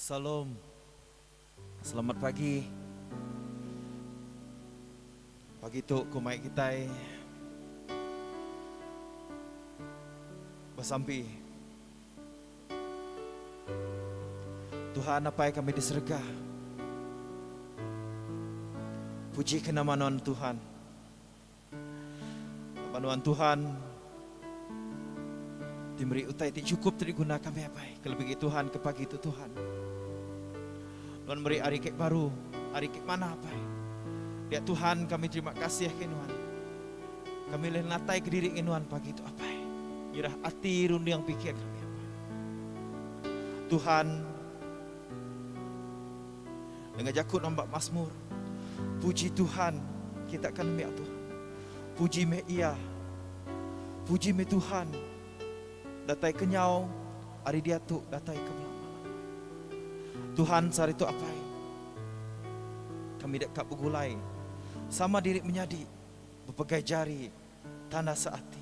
Salom. Selamat pagi. Pagi tu ku mai kitai besampi. Tuhan Apai kami di serega. Puji ke nama nuan Tuhan. Ba nuan Tuhan ti meri utai ti chukup ti diguna kami apai ke lebih Tuhan ke pagi tu Tuhan. Nuan meri hari ke baru, hari ke manah apai. Dia Tuhan kami terima kasih ke nuan. Kami leh natai ke diri ngi nuan pagi tu apai. Nyerah ati runding pikir kami apai. Tuhan Danga jaku nambak masmur. Puji Tuhan kita kan meh apuh. Puji meh iya. Puji meh Tuhan. Datai ke nyau ari diatu datai ke belama. Tuhan saritu apai. Kami deka begulai sama diri menyadi bepegai jari tanda seati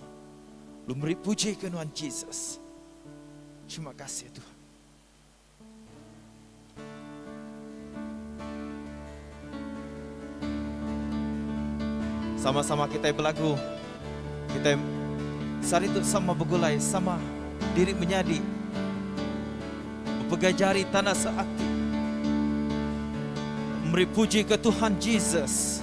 lu meri puji ke nuan Jesus. Terima kasih Tuhan. Sama-sama kitai belagu. Kitai sehari tu sama begulai, sama diri menyadi. Bepegai jari tanda seati. Meri puji ke Tuhan Jesus.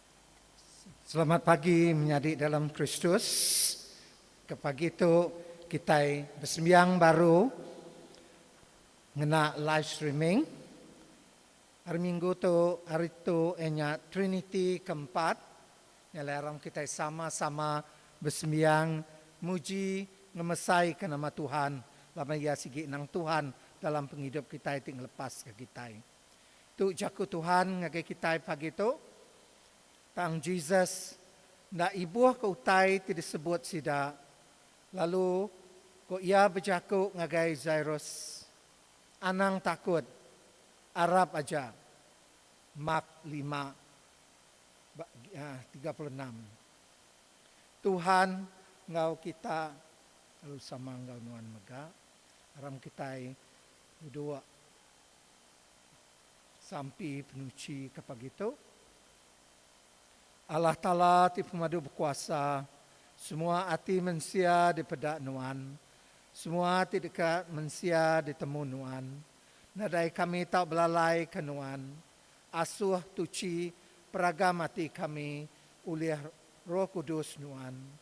Selamat pagi menyadi dalam Kristus. Ke pagi tu kitai besembiang baru ngena live streaming. Hari minggu tu hari tu eh nya Triniti ke empat. Nya alai aram kitai sama-sama besembiang muji ngemesaika nama Tuhan laban iya sigi nang Tuhan dalam pengidup kitai ti ngelepaska kitai. Tu jaku Tuhan ngagai kitai pagi tu. Tang Jesus enda ibuhka utai ti disebut sida, lalu ko iya bejaku ngagai Jairus, Anang takut, arap aja. Mak lima, tiga puluh enam. Tuhan enggau kita lalu sama enggau nuan mega. Aram kitai bedua. Sampi penuchi ke pagi tu. Allah Taala ti pemadu bekuasa, semua ati mensia dipeda Nuan, semua ati deka mensia ditemu Nuan. Nadai kami tau belalai ke Nuan. Asuh tuchi peragam ati kami ulih Roh Kudus Nuan.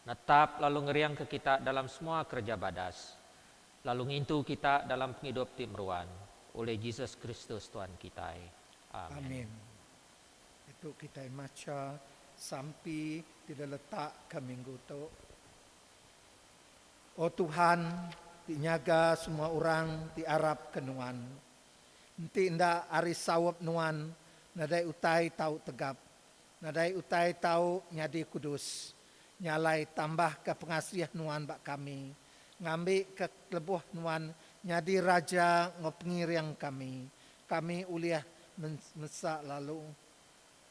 Netap lalu ngeringka kita dalam semua kereja badas, lalu ngintu kita dalam pengidup ti meruan, ulih Jesus Kristus Tuan kitai. Amin. Amin. Ditu kitai macha sampi ti diletakka minggu tu. O Tuhan, ti nyaga semua orang ti arapka Nuan, enti enda ari saup Nuan, nadai utai tau tegap Nadai utai tau nyadi kudus. Nya alai tambahka pengasih Nuan ba kami, ngambika lebuh Nuan nyadi Raja enggau Pengiring kami, kami ulih mesa lalu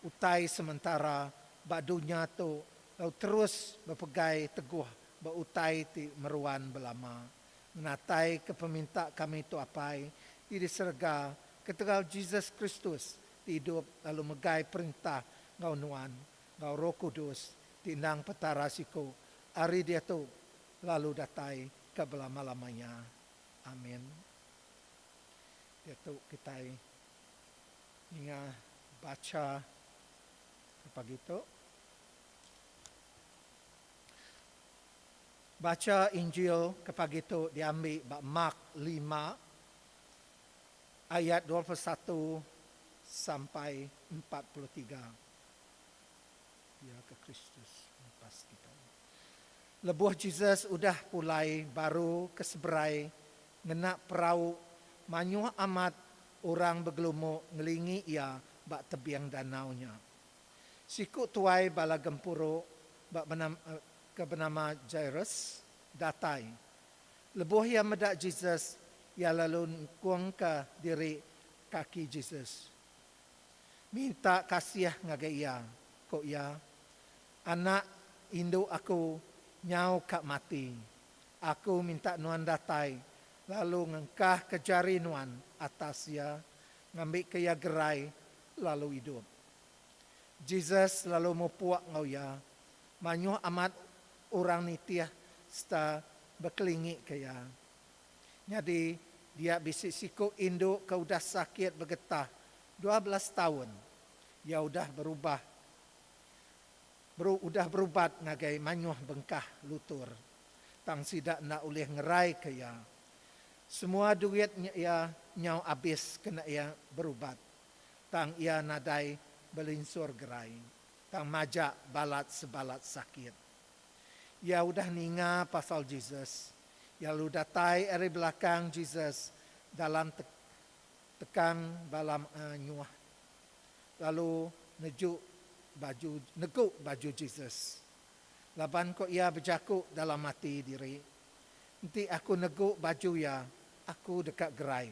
utai sementara ba dunya tu lalu terus bepegai teguh ba utai ti meruan belama. Ngenataika peminta kami tu Apai ti di serega ketegal Jesus Kristus ti idup lalu megai perintah enggau nuan enggau Roh Kudus ti endang Petara siku ari diatu lalu datai ke belama-lamanya. Amin. Diatu kitai ninga bacha ke pagi tu. Bacha Injil ke pagi tu diambi ba Mark lima ayat dua puluh satu sampai empat puluh tiga, Pia ke Kristus ngepas kitai. Lebuh Jesus udah pulai baru ke seberai ngena perau, mayuh amat orang begelumu ngelingi iya ba tebing danau nya. Siku tuai bala gempuru ba benam ke benama Jairus datai Lebuh iya meda Jesus, iya lalu ngkungka diri kaki Jesus, minta kasih ngagai iya. Ku iya, Anak indu aku nyau ka mati. Aku minta nuan datai lalu ngengkahka jari nuan atas iya, ngambika iya gerai lalu idup. Jesus lalu mupuk enggau iya. Mayuh amat orang nitih sereta bekelingika iya. Nyadi, dia bisi siku indu ke udah sakit begetah dua belas taun. Iya udah berubah udah berubat ngagai mayuh bengkah lutur, tang sida enda ulih ngeraika iya. Semua duit nya iya nyau abis kena iya berubat. tang iya nadai belinsur gerai tang majak balat sebalat sakit. Iya udah ninga pasal Jesus, iya lalu datai ari belakang Jesus dalam te tekang balam anyuh lalu neju baju negu baju Jesus. Laban ko iya bejaku dalam ati diri, Enti aku negu baju iya, aku deka gerai.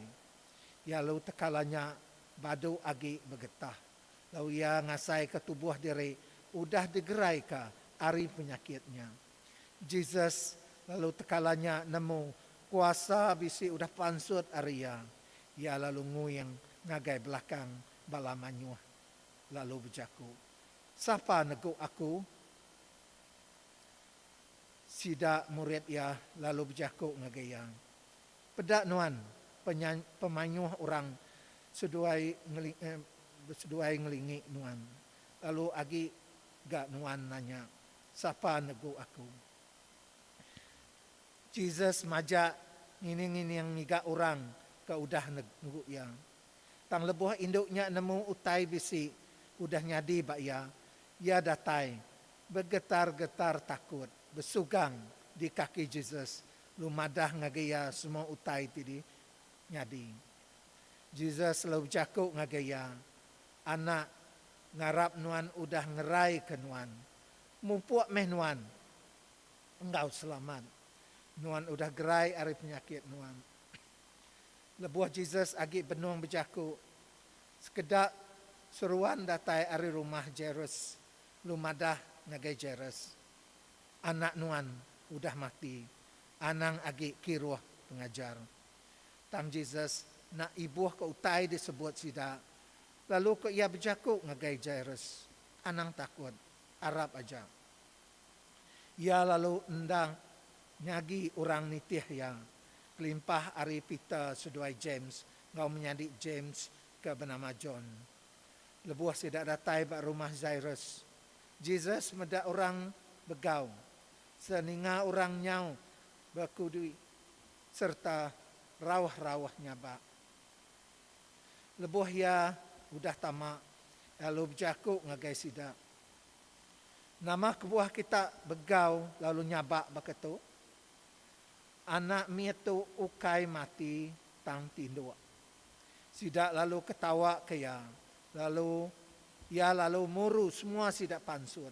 Iya lalu teka lanya badu agi begetah lalu iya ngasaika tubuh diri udah digeraika ari penyakit nya. Jesus lalu teka lanya nemu kuasa bisi udah pansut ari iya. Iya lalu nguing ngagai belakang bala manyuh lalu bejaku, Sapa negu aku? Sida murid iya lalu bejaku ngagai iya, Peda nuan pemayuh orang seduai ngelingi nuan lalu agi ga nuan nanya sapa negu aku. Jesus majak ngining-ngining ngiga orang ke udah negu iya. Tang lebuh indu nya nemu utai bisi udah nyadi ba iya, iya datai begetar-getar takut besugang di kaki Jesus Lu madah ngagai iya semua utai ti dinyadi. Jesus lalu bejaku ngagai iya, Anak, ngarap nuan udah ngeraika nuan. Mupuk meh nuan enggau selamat. Nuan udah gerai ari penyakit nuan. Lebuh Jesus agi benung bejaku, sekeda seruan datai ari rumah Jairus, lu madah ngagai Jairus. Anak nuan udah mati, anang agi kiruh pengajar. Tang Jesus enda ibuhka utai disebut sida, lalu ko iya bejaku ngagai Jairus, Anang takut, arap aja. Iya lalu enda nyagi orang nitih iya, kelimpah ari Peter seduai James enggau menyadi James ke benama John. Lebuh sida datai ba rumah Jairus, Jesus meda orang begau sereta ninga orang nyau bekudui sereta rauh-rauh nyabak. Lebuh iya udah tama, lalu bejaku ngagai sida, Nama kebuah kita begau lalu nyabak baka tu? Anak mit tu ukai mati tang tinduk. Sida lalu ketawaka iya, lalu iya lalu muru semua sida pansut.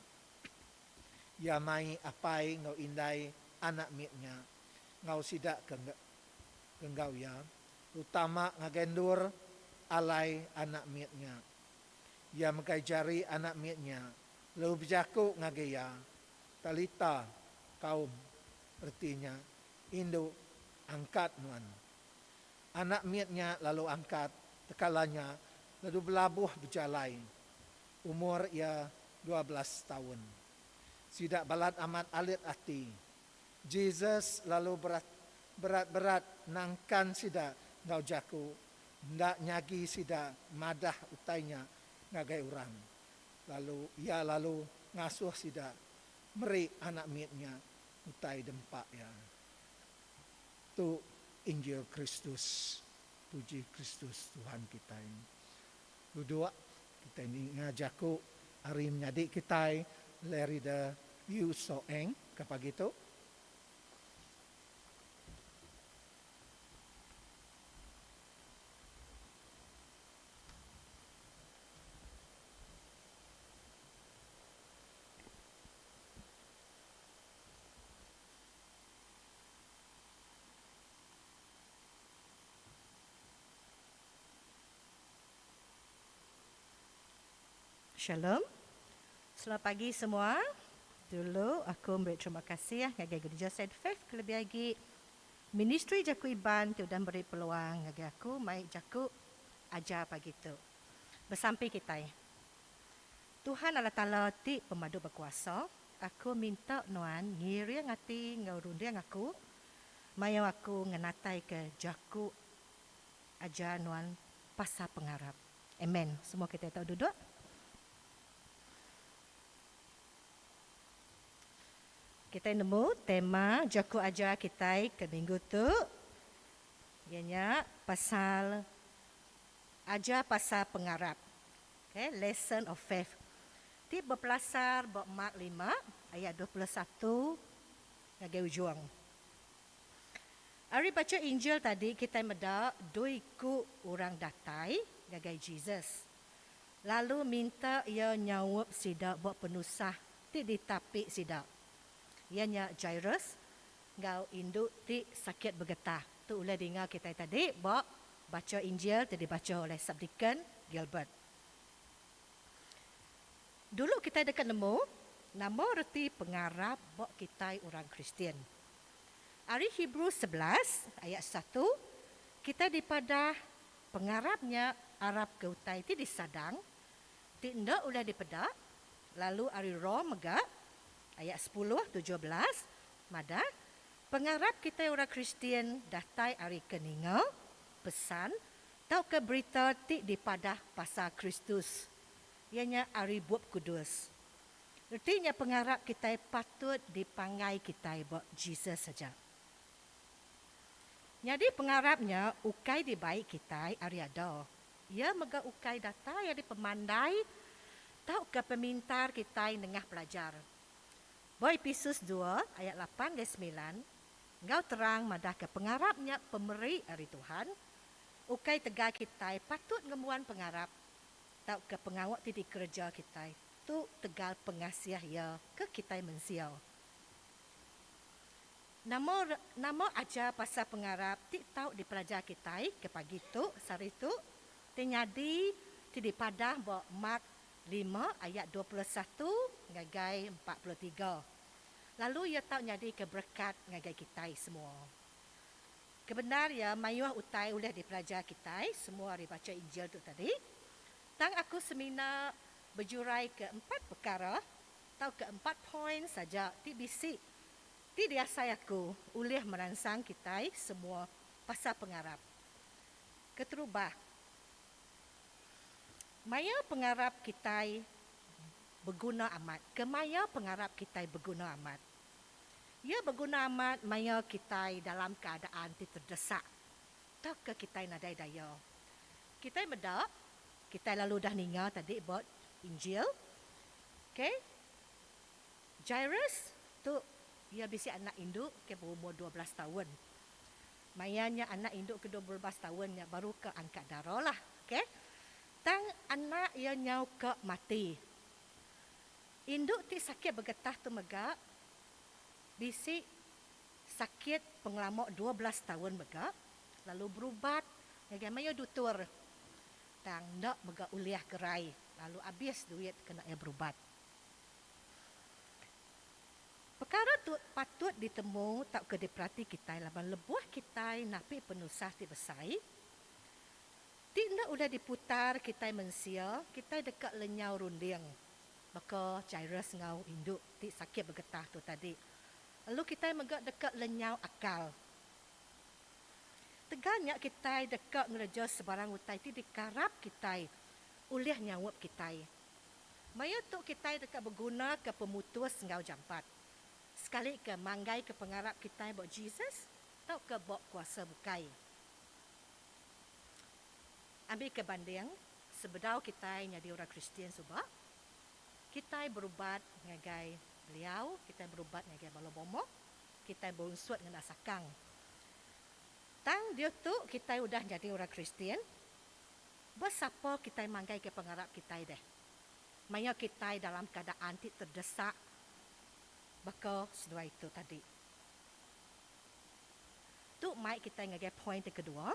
Iya mai apai enggau indai anak mit nya enggau sida ke enggau iya, terutama ngagai endur alai anak mit nya. Iya megai jari anak mit nya lalu bejaku ngagai iya, Talita, kaum, reti nya, Indu, angkat nuan. Anak mit nya lalu angkat tekala nya lalu belabuh bejalai. Umur iya dua belas taun. Sida balat amat alit ati. Jesus lalu berat berat-berat nangkan sida enggau jaku enda nyagi sida madah utai nya ngagai orang. Lalu iya lalu ngasuh sida meri anak mit nya utai dempa iya. Tu injil Kristus. Puji Kristus Tuhan kitai. Duduk kitai ninga jaku ari menyadi kitai Lerida Yew Soe Eng ke pagi tu. Shalom. Selamat pagi semua. Dulu aku meri terima kasih ngagai Gereja Saint Faith kelebih agi Ministri Jaku Iban ti udah meri peluang ngagai aku mai jaku ajar pagi tu. Besampi kitai. Tuhan Allah Taala ti pemadu bekuasa. Aku minta nuan ngiring ati enggau runding aku, mayuh aku ngenataika jaku ajar nuan pasal pengarap. Amen. Semua kitai tau duduk. Kitai nemu tema jaku ajar kitai ke minggu tu, iya nya pasal Ajar pasal Pengarap. Okay, Lesson of Faith. Ti bepelasar ba Mark lima ayat dua puluh satu ngagai ujung. Ari bacha Injil tadi kitai meda dua iku orang datai ngagai Jesus lalu minta iya nyaup sida ba penusah ti ditapi sida, iya nya Jairus enggau indu ti sakit begetah. Tu ulih dinga kitai tadi ba bacha Injil ti dibacha oleh Subdeacon Gilbert. Dulu kitai deka nemu nama reti pengarap ba kitai orang Kristian. Ari Hebrew sebelas ayat satu, kitai dipadah pengarap nya arap ke utai ti disadang, ti enda ulih dipeda, lalu ari Rom mega ayat sepuluh tujuh belas madah, pengarap kitai orang Kristian datai ari ke ninga pesan Tauka berita ti dipadah pasal Kristus, iya nya ari Bup Kudus. Reti nya pengarap kitai patut dipanggai kitai ba Jesus aja. Nyadi pengarap nya ukai dibai kitai ari ada. Iya mega ukai datai ari pemandai tauka pemintar kitai nengah pelajar. Ba Episus dua ayat lapan enggau semilan, enggau terang madahka pengarap nya pemeri ari Tuhan Ukai tegal kitai patut ngembuan pengarap tauka pengawa ti dikereja kitai tu tegal pengasih Iya ke kitai mensia. Nama nama ajar pasal pengarap ti tau dipelajar kitai ke pagi tu sehari tu ti nyadi ti dipadah ba Mark lima ayat dua puluh satu ngagai empat puluh tiga lalu iya tau nyadika berekat ngagai kitai semua? Kebendar iya mayuh utai ulih dipelajar kitai semua ari bacha Injil tu tadi. Tang aku semina bejuraika empat pekara tauka empat poin saja ti bisi ti diasai aku ulih meransang kitai semua pasal pengarap. Keterubah, maya pengarap kitai beguna amat. Kemaya pengarap kitai beguna amat? Iya beguna amat maya kitai dalam keadaan ti terdesak tauka kitai nadai daya. Kitai meda, kitai lalu udah ninga tadi ba Injil, ke Jairus tu iya bisi anak indu ke berumur dua belas taun. Maya nya anak indu ke dua belas taun nya baru ke angkat darahlah, ke. Tang anak iya nyau ke mati. Indu ti sakit begetah tu mega bisi sakit pengelama dua belas taun mega lalu berubat ngagai mayuh dutur tang enda mega ulih gerai lalu abis duit kena iya berubat. Pekara tu patut ditemu tauka diperati kitai laban lebuh kitai napi penusah ti besai ti enda ulih diputar kitai mensia, kitai deka lenyau runding. Baka Jairus enggau indu ti sakit begetah tu tadi, elu kitai mega deka lenyau akal. Tegal nya kitai deka ngereja sebarang utai ti dikarap kitai ulih nyaup kitai. Maya tu kitai deka begunaka pemutus enggau jampat, sekalika manggaika pengarap kitai ba Jesus tauka ba kuasa bukai. Ambika banding, Sebedau kitai nyadi orang Kristian suba, kitai berubat ngagai beliau, kitai berubat ngagai bala momok, kitai beunsut ngena sakang. Tang diutu kitai udah nyadi orang Kristian, ba sapa kitai manggaika pengarap kitai deh? Maya kitai dalam keadaan ti terdesak baka seduai tu tadi. Tu mai kitai ngagai poin ti kedua,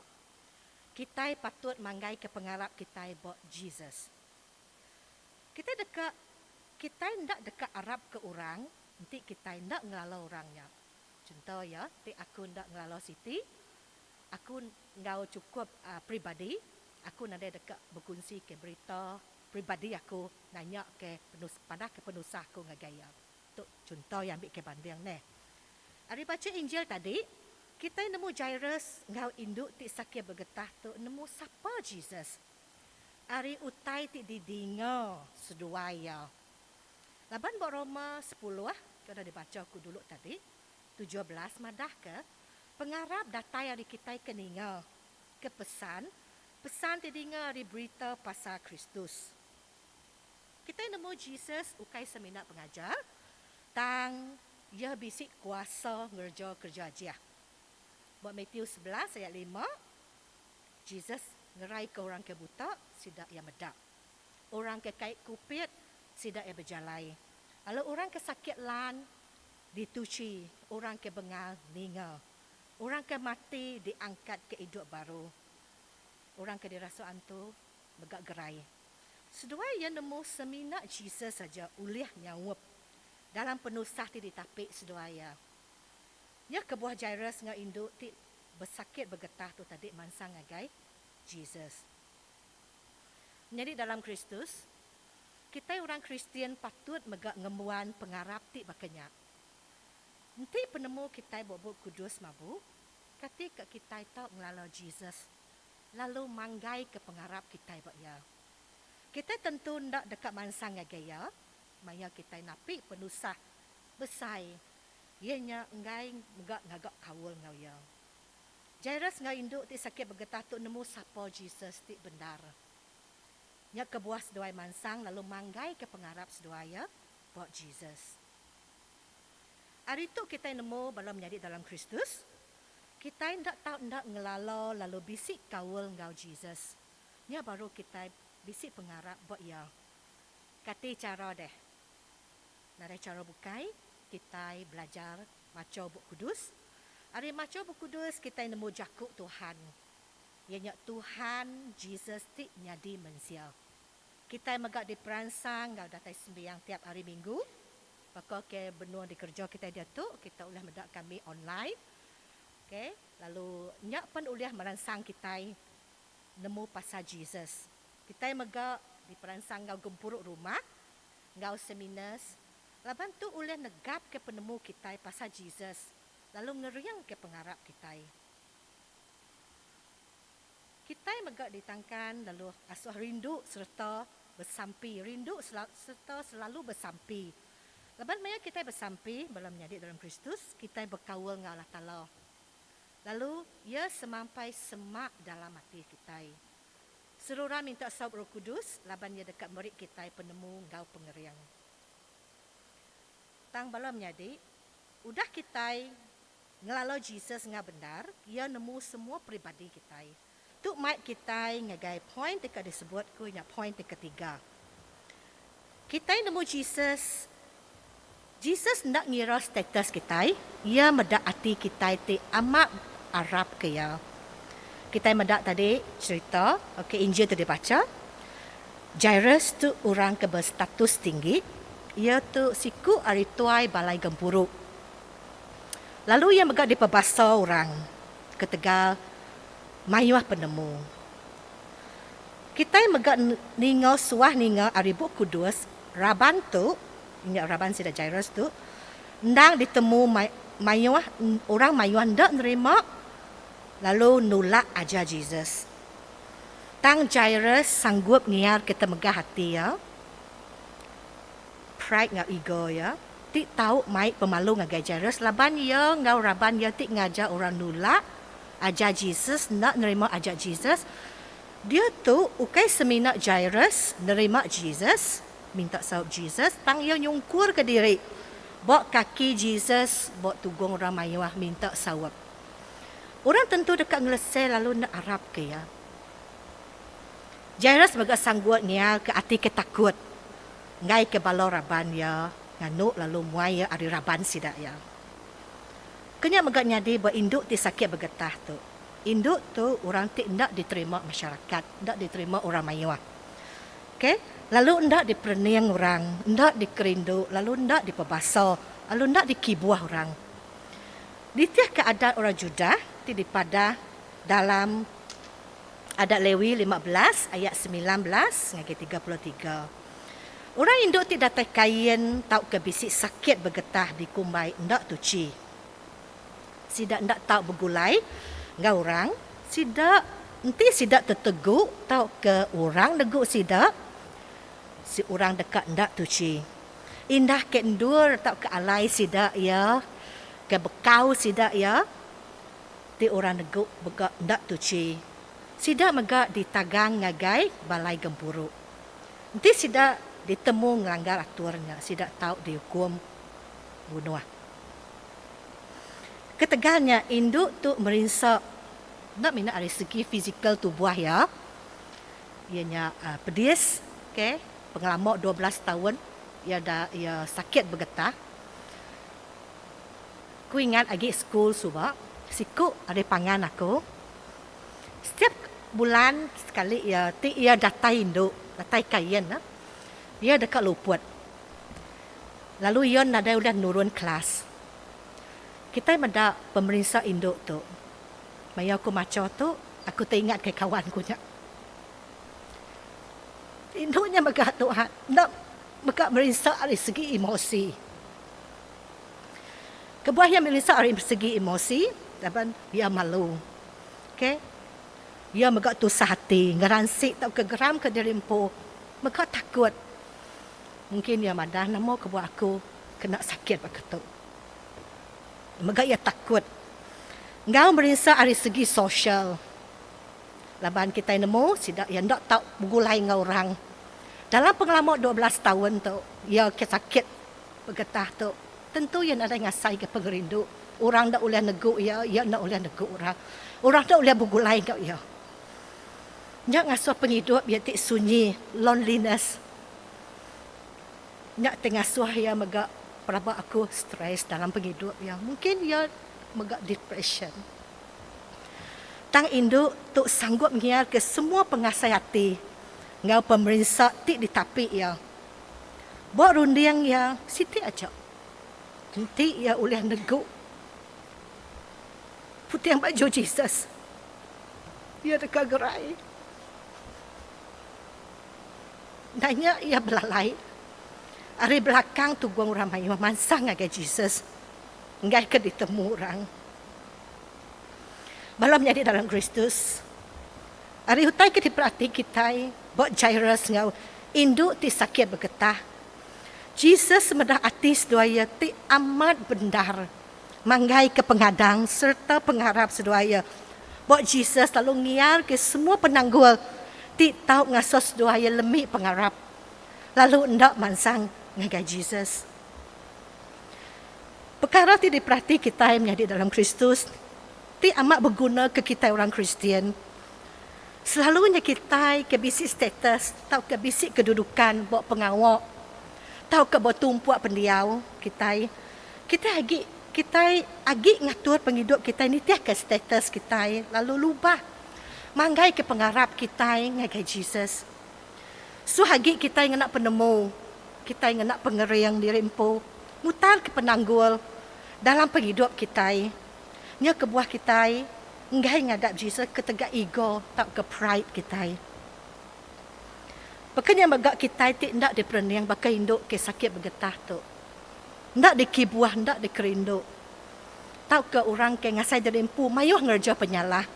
kitai patut manggaika pengarap kitai ba Jesus. Kitai deka kitai enda deka arapka orang enti kitai enda ngelala orang nya. Chunto iya, ti aku enda ngelala siti, aku enggau chukup peribadi aku nadai deka bekunsika berita peribadi aku nanyaka padahka penusah aku ngagai iya. Tu chunto iya ambika banding neh. Ari bacha Injil tadi, kitai nemu Jairus enggau indu ti sakir begetah tu nemu sapa Jesus. Ari utai ti didinga seduai iya. Laban ba Roma sepuluh, ke udah dibacha aku dulu tadi, tujuh belas madahka, pengarap datai ari kitai ke ninga, ke pesan, pesan ti dinga ari berita pasal Kristus. Kitai nemu Jesus ukai semina pengajar, tang Iya bisi kuasa ngereja kereja ajih. Ba Matius sebelas ayat lima, Jesus ngeraika orang ke buta, sida iya meda. Orang ke kai kupit, sida iya bejalai, lalu orang ke sakit lan dituchi, orang ke bengal ninga, orang ke mati diangkatka idup baru, orang ke dirasuk antu mega gerai. Seduai iya nemu semina Jesus aja ulih nyaup dalam penusah ti ditapi seduai iya. Iya kebuah Jairus enggau indu ti besakit begetah tu tadi mansang ngagai Jesus. Menyadi dalam Kristus, kitai orang Kristian patut mega ngembuan pengarap ti baka nya. Enti penemu kitai bup-bup kudus mabu, kati ka kitai tau ngelala Jesus lalu manggaika pengarap kitai ba Iya. Kitai tentu enda deka mansang ngagai Iya maya kitai napi penusah besai iya nya enggai mega ngaga kaul enggau Iya. Jairus enggau indu ti sakit begetah tu nemu sapa Jesus ti bendar. Nya kebuah seduai mansang lalu manggaika pengarap seduai iya ba Jesus. Ari tu kitai nemu bala menyadi dalam Kristus Kitai enda tau enda ngelala lalu bisi kaul enggau Jesus. Nya baru kitai bisi pengarap ba Iya. Kati chara deh? Nadai chara bukai kitai belajar macha Bup Kudus. Ari macha Bup Kudus kitai nemu jaku Tuhan, iya nya Tuhan Jesus ti nyadi mensia. Kitai mega diperansang enggau datai sembiang tiap hari minggu. Baka ke benung dikereja kitai diatu, kitai ulih meda kami online. Ke lalu nya pen ulih meransang kitai nemu pasal Jesus. Kitai mega diperansang enggau gempuru rumah enggau seminars laban tu ulih negapka penemu kitai pasal Jesus lalu ngeringka pengarap kitai. Kitai mega ditangkan lalu asuh rindu sereta besampi. Rindu sereta selalu besampi. Laban maya kitai besampi bala menyadi dalam Kristus, kitai bekaul enggau Allah Taala. Lalu Iya semampai semak dalam ati kitai. Seruran minta saup Roh Kudus laban Iya deka meri kitai penemu enggau pengering. Tang bala menyadi, udah kitai Ngelala Jesus enggau bendar, iya nemu semua peribadi kitai. Tu mai kitai ngagai poin deka disebut ku nya poin ti ketiga. Kitai nemu Jesus. Jesus enda ngira status kitai, iya meda ati kitai ti amat arap ke iya. Kitai meda tadi cherita ke Injil ti dibacha. Jairus tu orang ke bestatus tinggi. Iya tu siku ari tuai balai gempuru. lalu iya mega dipebasa orang ketegal mayuh penemu. Kitai mega ninga suah ninga ari Bup Kudus raban tu, nya raban sida Jairus tu, endang ditemu mayuh orang mayuh enda nerima lalu nulak ajar Jesus. Tang Jairus sanggup ngiarka temegah ati iya, pride enggau ego iya. ti tau mai pemalu ngagai Jairus laban iya enggau raban iya ti ngajar orang nulak ajar Jesus enda nerima ajar Jesus. Diatu ukai semina Jairus nerima Jesus minta saup Jesus tang iya nyungkurka diri ba kaki Jesus ba tugung orang mayuh minta saup. Orang tentu deka ngelesei lalu enda arapka iya. Jairus mega sanggut ngialka ati ke takut. Enggaika bala raban iya nganu lalu muai iya ari raban sida iya. Ke nya mega nyadi ba indu ti sakit begetah tu. Indu tu orang ti enda diterima masyarakat, enda diterima orang mayuh. Okay, lalu enda diperening orang, enda dikerindu lalu enda dipebasa lalu enda dikibuh orang. Nitihka adat orang Judah ti dipadah dalam. Adat Lewi lima belas ayat semilan belas ngagai tiga puluh tiga. Orang indu ti datai kain tauka bisi sakit begetah dikumbai enda tuchi. Sida enda tau begulai enggau orang. Sida enti sida tetegu tauka orang negu sida, seorang deka enda tuchi. Indah ke endur tauka alai sida iya, ke bekau sida iya. Ti orang negu mega enda tuchi. Sida mega ditagang ngagai balai gempuru. Enti sida ditemu ngelanggar atur nya sida tau diukum bunuh. Ketegal nya indu tu merinsa enda mina ari segi fizikal tubuh iya. Iya nya pedis okay pengelama dua belas taun iya sakit begetah. Ku ingat agi school suba siku ari pangan aku setiap bulan sekali iya ti iya datai indu datai kain ne iya deka luput lalu iya nadai udah nurun kelas kitai meda pemerinsa indu tu maya aku macha tu aku teringat kai kawan ku nya indu nya mega tu ha enda mega merinsa ari segi emosi. Kebuah iya Melissa ari segi emosi laban iya malu. Ok. Iya mega tusah ati, ngeransik tauka geramka diri empu. Mega takut. Mungkin iya madah nama kebuah aku kena sakit baka tu. Mega iya takut. Enggau merinsa ari segi sosial laban kitai nemu sida iya enda tau begulai enggau orang. Dalam pengelama dua belas taun tu iya sakit. Pegetah tu, tentu iya nadai ngasaika pengerindu. Orang enda ulih negu iya, iya enda ulih negu orang. Orang enda ulih begulai enggau iya. Nya ngasuh pengidup iya ti sunyi, loneliness. Nya ti ngasuh iya mega pelaba aku stress dalam pengidup iya. Mungkin iya mega depression. Tang indu tu sanggup ngiarka semua pengasai ati enggau pemerinsa ti ditapi iya. Ba runding iya siti aja, enti iya ulih negu puting baju Jesus, iya deka gerai. Enda nya iya belalai ari belakang tugong orang mayuh mansang ngagai Jesus enggaika ditemu orang. Bala menyadi dalam Kristus. Ari utai ke diperati kitai ba Jairus enggau indu ti sakit begetah, Jesus meda ati seduai iya ti amat bendar, manggaika pengadang sereta pengarap seduai iya. Ba Jesus lalu ngiarka semua penanggul ti tau ngasuh seduai iya lemi pengarap lalu enda mansang ngagai Jesus. Pekara ti diperati kitai menyadi dalam Kristus. Ti amat beguna ke kitai orang Kristian, selalunya kitai ke bisi status tauka bisi kedudukan ba pengawa tauka ba tumpuk pendiau kitai. Kitai agi kitai agi ngatur pengidup kitai nitihka status kitai lalu lubah manggaika pengarap kitai ngagai Jesus. Suah agi kitai ngena penemu, kitai ngena pengering diri empu mutarka penanggul dalam pengidup kitai. Nya kebuah kitai enggai ngadap Jesus ketegal ego tauka pride kitai. Baka nya mega kitai ti enda diperening baka indu ke sakit begetah tu, enda dikibuh, enda dikerindu, tauka orang ke ngasai diri empu mayuh ngereja penyalah.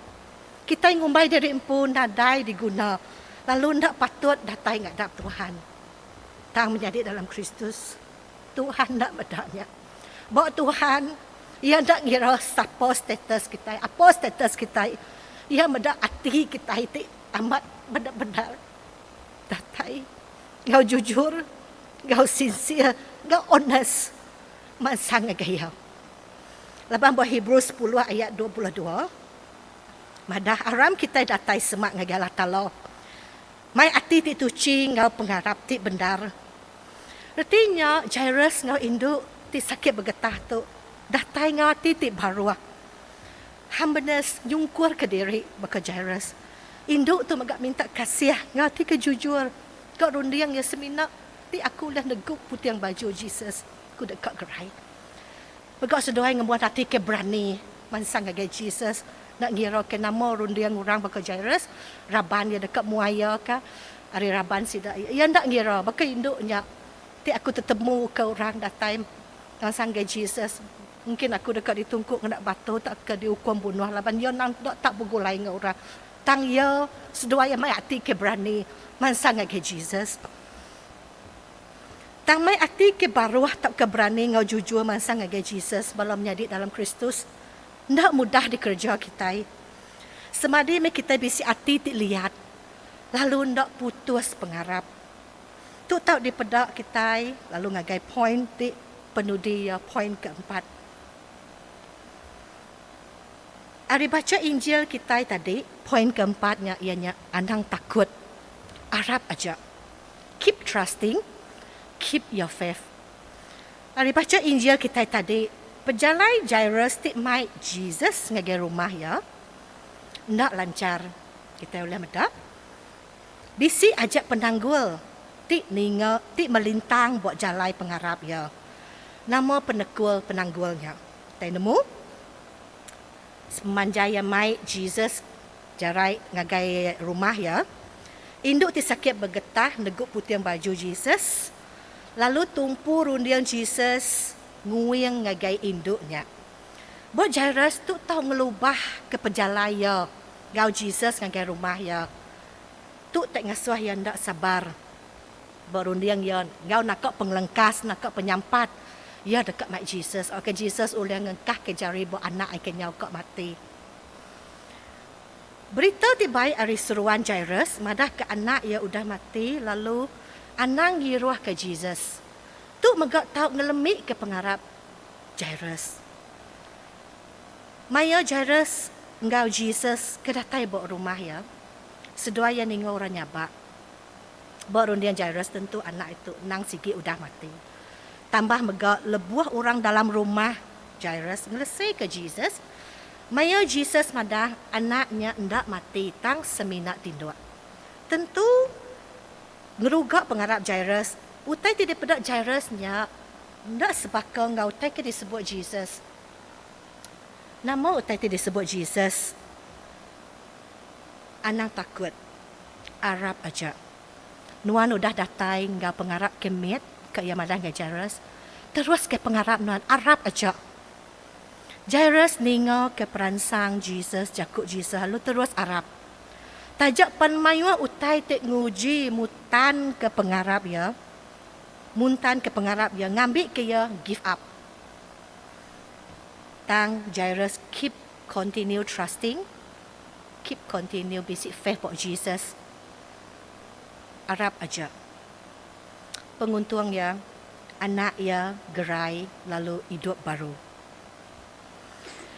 Kitai ngumbai diri empu nadai diguna lalu enda patut datai ngadap Tuhan, tang menyadi dalam Kristus. Tuhan enda meda nya. Ba Tuhan, Iya enda ngira sapa status kitai, apa status kitai. Iya meda ati kitai ti amat bendar-bendar. Datai enggau jujur, enggau sincere, enggau honest mansang ngagai Iya. Laban ba Hebrew sepuluh ayat dua puluh dua madah, Aram kitai datai semak ngagai Allah Taala. Mai ati ti tuchi enggau pengarap ti bendar. Reti nya, Jairus enggau indu ti sakit begetah tu datai enggau ati ti baruh. Hambanus nyungkurka diri baka Jairus. Indu tu mega minta kasih enggau ati ke jujur, Ka runding iya semina ti aku ulih negu puting baju Jesus ku deka gerai. Mega seduai ngembuan ati ke berani mansang ngagai Jesus enda ngiraka nama runding orang baka Jairus, raban iya deka muaiaka ari raban sida. Iya enda ngira baka indu nya, Ti aku tetemuka orang datai mansang ngagai Jesus, mungkin aku deka ditungku ngena batu tauka diukum bunuh laban iya endang deka tau begulai enggau orang. Tang iya seduai iya mai ati ke berani mansang ngagai Jesus. Tang mai ati ke baruh tauka berani enggau jujur mansang ngagai Jesus bala menyadi dalam Kristus enda mudah dikereja kitai. Semadi meh kitai bisi ati ti liat lalu enda putus pengarap. Tu tau dipeda kitai lalu ngagai poin ti penudi iya poin keempat. Ari bacha Injil kitai tadi, poin keempat nya iya nya anang takut. Arap aja. Keep trusting, keep your faith. Ari bacha Injil kitai tadi, pejalai Jairus ti mai Jesus ngagai rumah iya enda lanchar. Kitai ulih meda, bisi aja penanggul ti ninga ti melintang ba jalai pengarap iya. Nama penekul penanggul nya? Kitai nemu, semanjai iya mai Jesus Jarai ngagai rumah iya, indu ti sakit begetah negu puting baju Jesus, lalu tumpu runding Jesus nguing ngagai indu nya. Buat Jairus tu tau ngelubahka pejalai iya enggau Jesus ngagai rumah iya. Tu ti ngasuh iya enda sabar ba runding iya enggau naka pengelengkas, naka penyampat iya deka mai Jesus. Oka Jesus ulih ngengkahka jari ba anak ai kenyau ka mati. Berita ti baik ari seruan Jairus madahka anak iya udah mati lalu anang ngiruhka Jesus. Tu mega tau ngelemika pengarap Jairus. Maya Jairus enggau Jesus ke datai ba rumah iya, seduai iya ninga orang nyabak. Ba runding Jairus tentu anak itu endang sigi udah mati. Tambah mega lebuh orang dalam rumah. Jairus ngelesika Jesus. Maya Jesus madah anak nya enda mati tang semina tinduk, tentu ngeruga pengarap Jairus. Utai ti dipeda Jairus nya enda sebaka enggau utai ke disebut Jesus. Nama utai ti disebut Jesus? Anang takut. Arap aja. Nuan udah datai enggau pengarap ke mit, ke iya madah enggau Jairus, teruska pengarap nuan, arap aja. Jairus ningaka peransang Jesus, jaku Jesus lalu terus arap. Taja pan mayuh utai ti nguji mutanka pengarap iya, muntanka pengarap iya ngambika iya give up. Tang Jairus keep continue trusting, keep continue bisi faith ba Jesus. Arap aja penguntung iya, anak iya gerai lalu idup baru.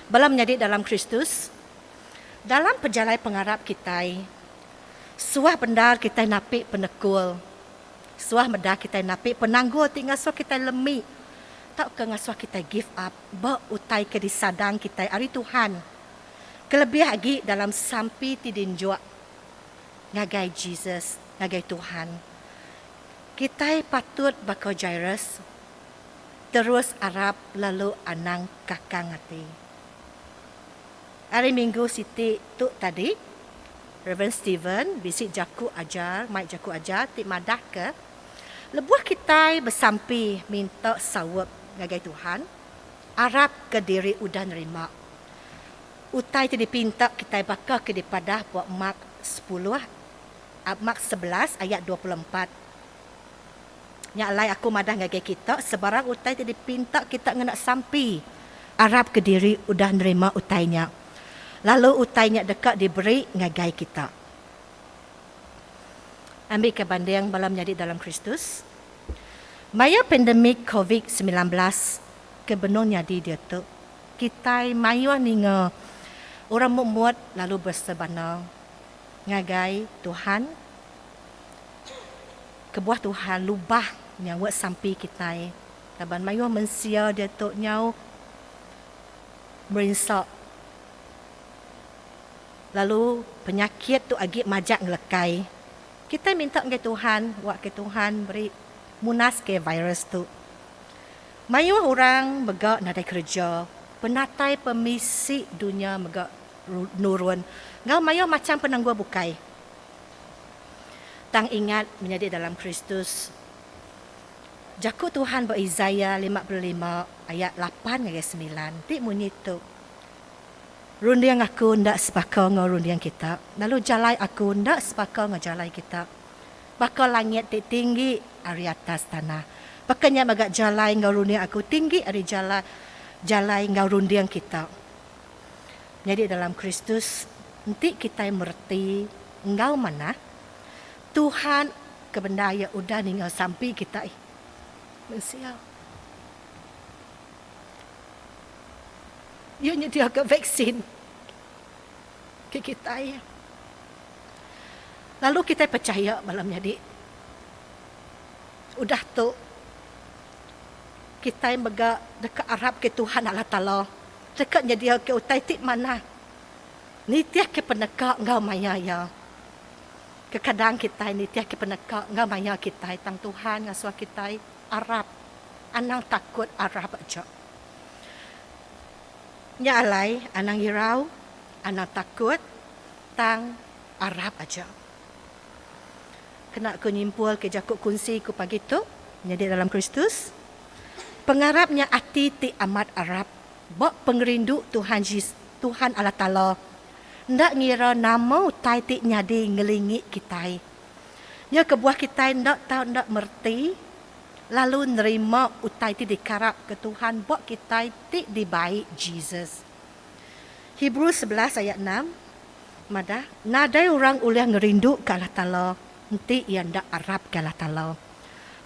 Bala menyadi dalam Kristus, dalam pejalai pengarap kitai, suah bendar kitai napi penekul, suah meda kitai napi penanggul ti ngasuh kitai lemi tauka ngasuh kitai give up ba utai ke disadang kitai ari Tuhan, kelebih agi dalam sampi ti dinjuk ngagai Jesus ngagai Tuhan. Kitai patut baka Jairus, terus arap lalu anang kakang ati. Ari minggu siti tu tadi, Reverend Steven bisi jaku ajar, mai jaku ajar ti madahka, lebuh kitai besampi minta saup ngagai Tuhan, arapka diri udah nerima. Utai ti dipinta kitai baka ke dipadah ba Mark sepuluh, Mark sebelas ayat dua puluh empat. Nya alai aku madah ngagai kita, sebarang utai ti dipinta kita ngena sampi, arap kediri udah nerima utai nya, lalu utai nya deka diberi ngagai kita. Ambika banding bala menyadi dalam Kristus maya pandemik covid semilan belas ke benung nyadi diatu. Kitai mayuh ninga orang mut-mut lalu bersebana ngagai Tuhan. Kebuah Tuhan lubah nyaut sampi kitai laban mayuh mensia diatu nyau merinsa lalu penyakit tu agi majak ngelekai. Kitai minta ngagai Tuhan, awakka Tuhan meri munaska virus tu. Mayuh orang mega nadai kereja, penatai pemisi dunya mega nurun enggau mayuh macham penanggul bukai. Tang ingat menyadi dalam Kristus. Jaku Tuhan ba Isaiah lima puluh lima ayat lapan ngagai semilan ti munyi tu, Runding Aku enda sebaka enggau runding kita, lalu jalai Aku enda sebaka enggau jalai kita. Baka langit ti tinggi ari atas tanah, baka nya mega jalai enggau runding aku tinggi ari jala jalai enggau runding kita. Nyadi dalam Kristus enti kitai mereti enggau manah, Tuhan ke bendar iya udah ninga sampi kitai. Mensia. Iya nyediaka vaksin. ti kitai lalu kitai pechaya bala menyadi. Udah tu kitai mega deka arapka Tuhan Allah Taala deka nyediaka utai ti manah nitihka peneka enggau maya iya. Kekadang kitai nitihka peneka enggau maya kitai tang Tuhan ngasuh kitai arap anang takut arap aja. Nya alai anang irau, anang takut, tang arap aja. Kena ku nyimpulka jaku kunsi ku pagi tu nyadi dalam Kristus, pengarap nya ati ti amat arap ba pengerindu Tuhan Jesus, Tuhan Allah Taala, enda ngira nama utai ti nyadi ngelingi kitai. Nya kebuah kitai enda tau enda mereti lalu nerima utai ti dikarapka Tuhan ba kitai ti dibai Jesus. Hebrew sebelas ayat enam madah, Nadai orang ulih ngerinduka Allah Taala enti iya enda arapka Allah Taala.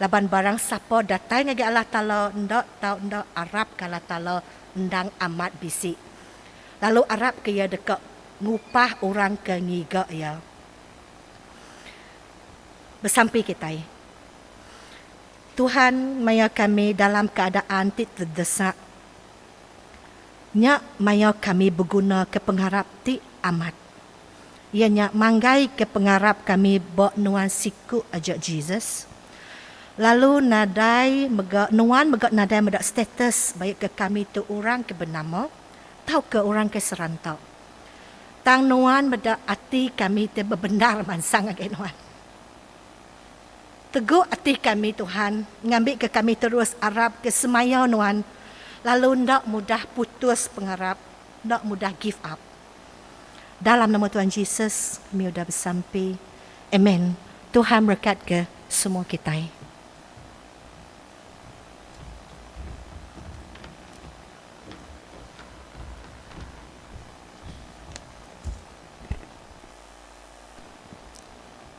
Laban barang sapa datai ngagai Allah Taala enda tau enda arapka Allah Taala endang amat bisi, lalu arapka Iya deka ngupah orang ke ngiga Iya. Besampi kitai. Tuhan maya kami dalam keadaan ti terdesak. Nya maya kami begunaka pengarap ti amat. Iya nya manggaika pengarap kami ba Nuan siku aja Jesus. Lalu nadai mega Nuan mega nadai meda status baik ke kami tu orang ke benama tauka orang ke seranta. Tang Nuan meda ati kami ti bebendar mansang ngagai Nuan. Teguk ati kami Tuhan ngambika kami terus arap ke semaya Nuan lalu enda mudah putus pengarap enda mudah give up. Dalam nama Tuhan Jesus kami udah besampi. Amen. Tuhan berekatka semua kitai.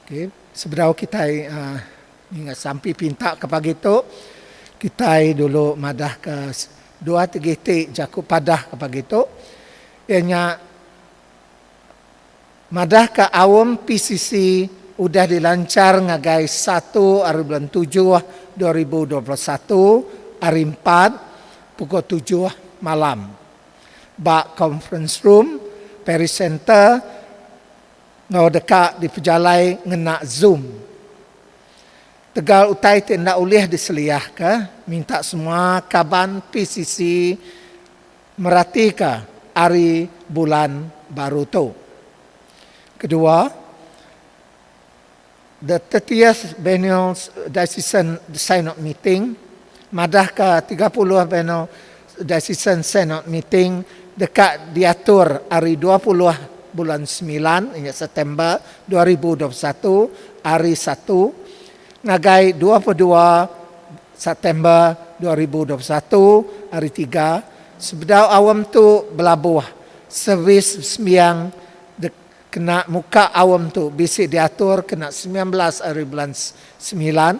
Okey, sebedau kitai ninga sampi pinta ke pagi tu, kitai dulu madah ke dua tegih ti jaku padah ke pagi tu, iya nya madah ke aum PCC udah dilanchar ngagai satu ari bulan tujuh dua ribu dua puluh satu hari empat pukul tujuh malam ba Conference Room, Paris Centre. Enggau deka dipejalai ngena Zoom. Tegal utai ti enda ulih diseliahka, minta semua kaban PCC meratika ari bulan baru tu. Kedua, The thirtieth Biennial Diocesan Synod Meeting madahka tiga puluh Biennial Diocesan Synod Meeting deka diatur ari dua puluh bulan semilan inya September dua ribu dua puluh satu, Hari Satu, ngagai dua puluh dua September dua ribu dua puluh satu, Hari Tiga, sebedau aum tu belabuh servis sembiang Kena muka aum tu bisi diatur kena semilan belas ari bulan semilan,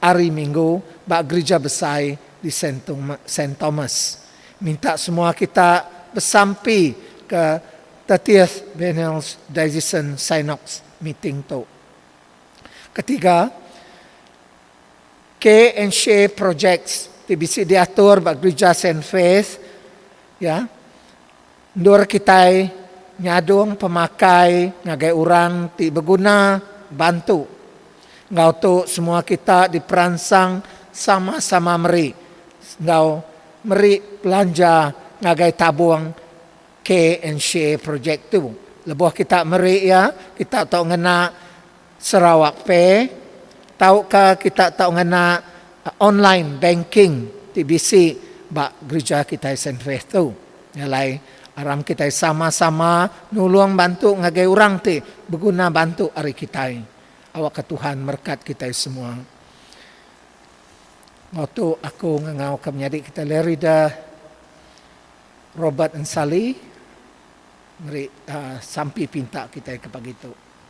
Hari Minggu, ba Gerija Besai di Saint Thomas. Minta semua kita besampi ke thirtieth Biennial Diocesan Synox Meeting tu. Ketiga, Care and Share Projects ti bisi diatur ba Gerija Saint Faith iya Endur kitai nyadung pemakai ngagai orang ti beguna bantu. Enggau tu semua kita diperansang sama-sama meri enggau meri belanja ngagai tabung Care and Share projek tu. Lebuh kita meri iya, kita tu ngena. Sarawak Pay tauka kita tau ngena online banking ti bisi ba gereja kitai Saint Faith tu. Nya alai aram kitai sama-sama nulung bantu ngagai orang ti beguna bantu ari kitai. Awakka Tuhan merekat kitai semua. Enggau tu aku ngangauka menyadi kita Lerida Robert Ensali meri sampi pinta kitai ke pagi tu.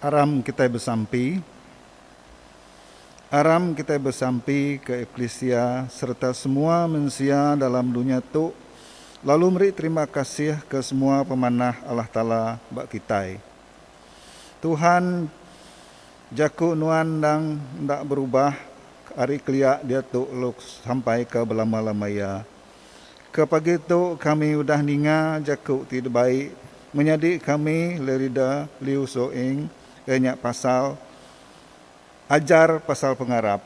Aram kitai besampi Aram kitai besampi ke eklisia sereta semua mensia dalam dunya tu lalu meri terima kasih ke semua pemanah Allah Taala ba kitai. Tuhan jaku nuan endang enda berubah ari kelia diatu lalu sampai ke belama-lama iya. Ke pagi tu kami udah ninga jaku ti dibai menyadi kami Lerida Liu So Ing iya nya pasal Ajar Pasal Pengarap.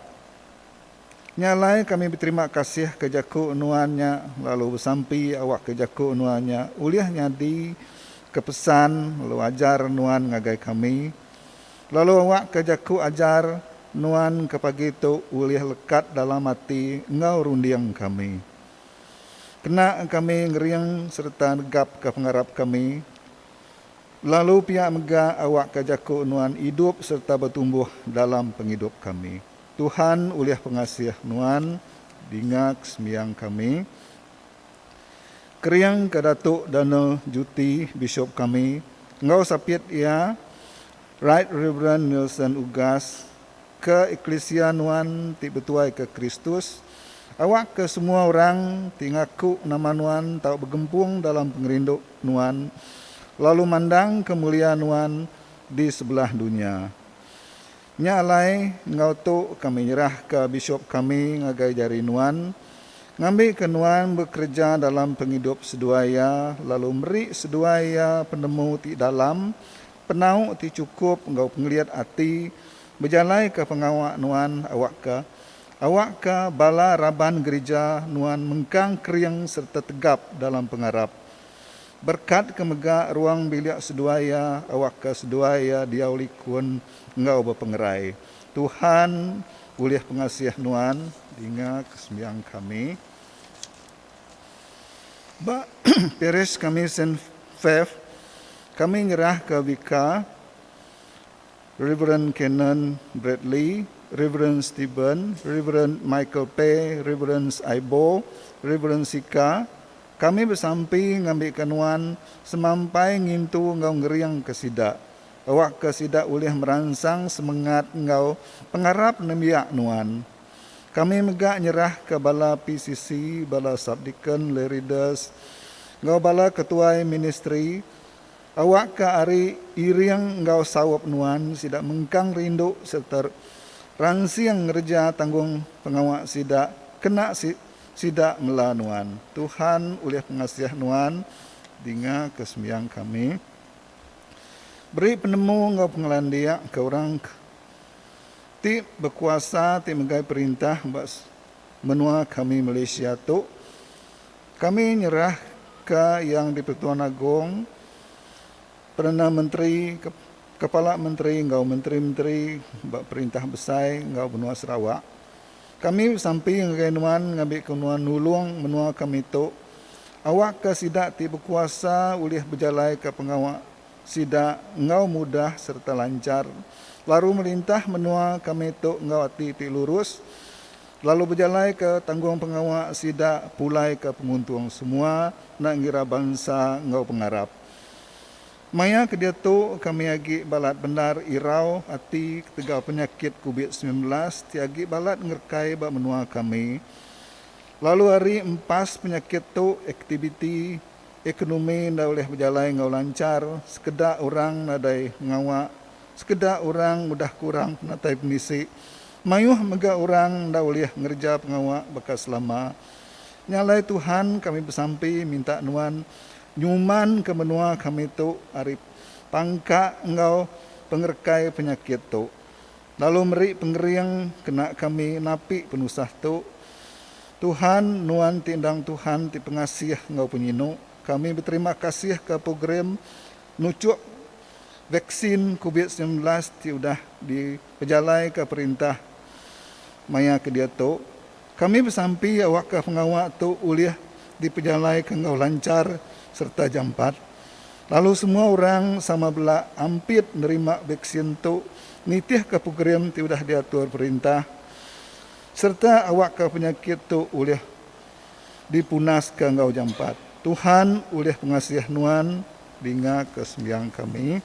Nya alai kami beterima kasih ke jaku nuan nya lalu besampi awakka jaku nuan nya ulih nyadi ke pesan lalu ajar nuan ngagai kami. Lalu awakka jaku ajar nuan ke pagi tu ulih lekat dalam ati enggau runding kami. Kena kami ngering sereta negapka pengarap kami. Lalu pia mega awakka jaku nuan idup sereta betumbuh dalam pengidup kami. Tuhan ulih pengasih nuan dingak sembiang kami. Kering ke Datu Donald Juti Bishop kami enggau sapit iya Right Rev Nelson Ugas ke eklisia nuan ti betuai ke Kristus awak ke semua orang ti ngaku nama nuan tau begempung dalam pengerindu nuan lalu mandang ke mulia nuan di sebelah dunya. Nya alai enggau tu kami nyerahka bisup kami ngagai jari nuan, ngambika nuan bekereja dalam pengidup seduai iya lalu meri seduai iya penemu ti dalam, penau ti chukup enggau pengelit ati bejalaika pengawa nuan awakka awakka bala raban gerija nuan mengkang kering sereta tegap dalam pengarap. Berkat ke mega ruang bilik seduai iya awakka seduai iya diau likun. enggau bepengerai. Tuhan ulih pengasih nuan dinga ke sembiang kami. Ba parish kami Saint Feph kami nyerah ke Vicar Reverend Canon Bradley, Reverend Steven, Reverend Michael Peh, Reverend Aibo, Reverend Sika, kami besampi ngambika nuan semampai ngintu enggau ngering ke sida. awakka sida ulih meransang semengat enggau pengarap nembiak nuan. Kami mega nyerahka bala PCC, bala subdeacon, lay readers, enggau bala ketuai ministri awakka ari iring enggau saup nuan sida mengkang rindu sereta ransing ngereja tanggung pengawa sida kena sida mela nuan. Tuhan ulih pengasih nuan dingaka sembiang kami. Beri penemu enggau pengelandik ke orang ke ti bekuasa ti megai perintah ba menua kami Malaysia tu. Kami nyerah ka Yang di-Pertuan Agong, Perdana Menteri, Kepala Menteri enggau menteri-menteri ba perintah besai enggau menua Sarawak Kami besampi ngagai nuan ngambika nuan nulung menua kami tu awakka sida ti bekuasa ulih bejalaika pengawa sida enggau mudah sereta lanchar, lalu melintah menua kami tu enggau ati ti lurus, lalu bejalaika tanggungpengawa sida pulaika penguntung semua enda ngira bansa enggau pengarap. Maya ke diatu, kami agi balat bendar irau ati ketegal penyakit Kubit semilan belas ti agi balat ngerekai ba menua kami. Lalu ari empas penyakit tu, aktiviti ekonomi enda ulih bejalai enggau lanchar, sekeda orang nadai mengawa, sekeda orang udah kurang penatai pemisi, mayuh mega orang enda ulih ngereja pengawa baka selama. Nya alai Tuhan kami besampi minta nuan Nyumanka menua kami tu ari pangka enggau pengerekai penyakit tu lalu meri pengering kena kami napi penusah tu. Tuhan, Nuan ti endang Tuhan ti pengasih enggau penyinu, kami beterima kasihka program nuchuk vaksin Covid semilan belas ti udah dipejalaika perintah maya ke diatu Kami besampi awakka pengawa tu ulih dipejalaika enggau lanchar sereta jampat, lalu semua orang sama bela ampit nerima vaksin tu nitihka program ti udah diatur perintah sereta awakka penyakit tu ulih dipunaska enggau jampat. Tuhan ulih pengasih nuan dinga ke sembiang kami.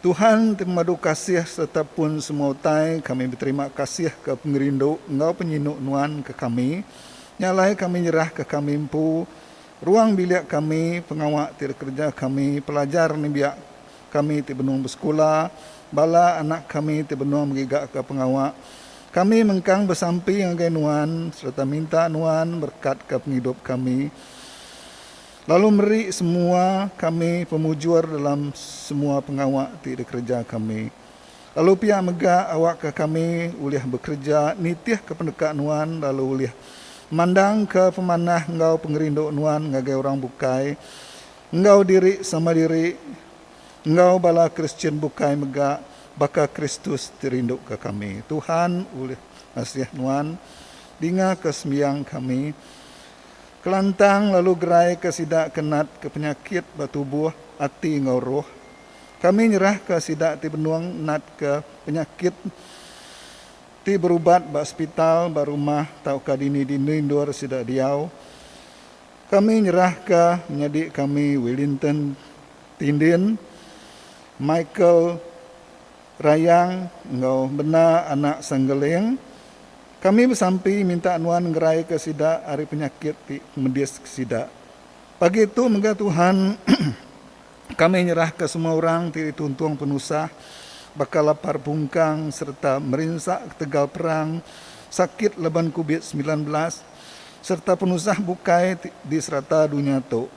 Tuhan ti pemadu kasih sereta pun semua utai, kami beterima kasih ke pengerindu enggau penyinu Nuan ke kami. Nya alai kami nyerah ke kami empu, ruang bilik kami, pengawa ti dikereja kami, pelajar nembiak kami ti benung besekula, bala anak kami ti benung mengigaka pengawa. Kami mengkang besampi ngagai Nuan sereta minta Nuan berekatka pengidup kami. Lalu meri semua kami pemujur dalam semua pengawa ti dikereja kami. Lalu pia mega awakka kami ulih bekereja nitihka pendeka Nuan lalu ulih mandangka pemanah enggau pengerindu Nuan ngagai orang bukai enggau diri sama diri enggau bala Kristian bukai mega baka Kristus ti rinduka kami. Tuhan ulih ngasih Nuan dingaka sembiang kami. Kelantang lalu geraika sida ke natka penyakit ba tubuh, ati enggau roh. Kami nyerahka sida ti benung natka penyakit ti berubat ba sepital, ba rumah tauka dini-dini endur sida diau. Kami nyerahka menyadi kami Willinton Tindin, Michael Rayang enggau Bena Anak Sanggeling. Kami besampi minta nuan ngeraika sida ari penyakit ti medis sida. Pagi tu mega Tuhan kami nyerahka semua orang ti dituntung penusah baka lapar pungkang sereta merinsa ketegal perang, sakit laban Covid semilan belas sereta penusah bukai ti di serata dunya tu.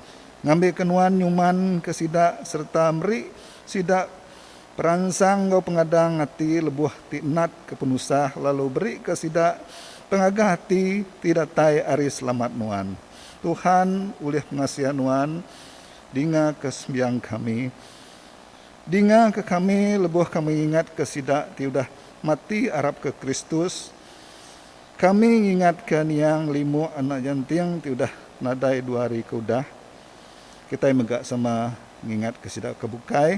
Ngambika nuan nyumanka sida sereta meri sida Peransang enggau pengadang ati lebuh ti natka penusah lalu berika sida pengagah ati ti datai ari selamat nuan. Tuhan ulih pengasih nuan dingaka sembiang kami. Dingaka kami lebuh kami ngingatka sida ti udah mati arapka Kristus. Kami ngingatka niang limu anak nyenting ti udah nadai dua hari ke udah. Kitai mega sama ngingatka sida ke bukai.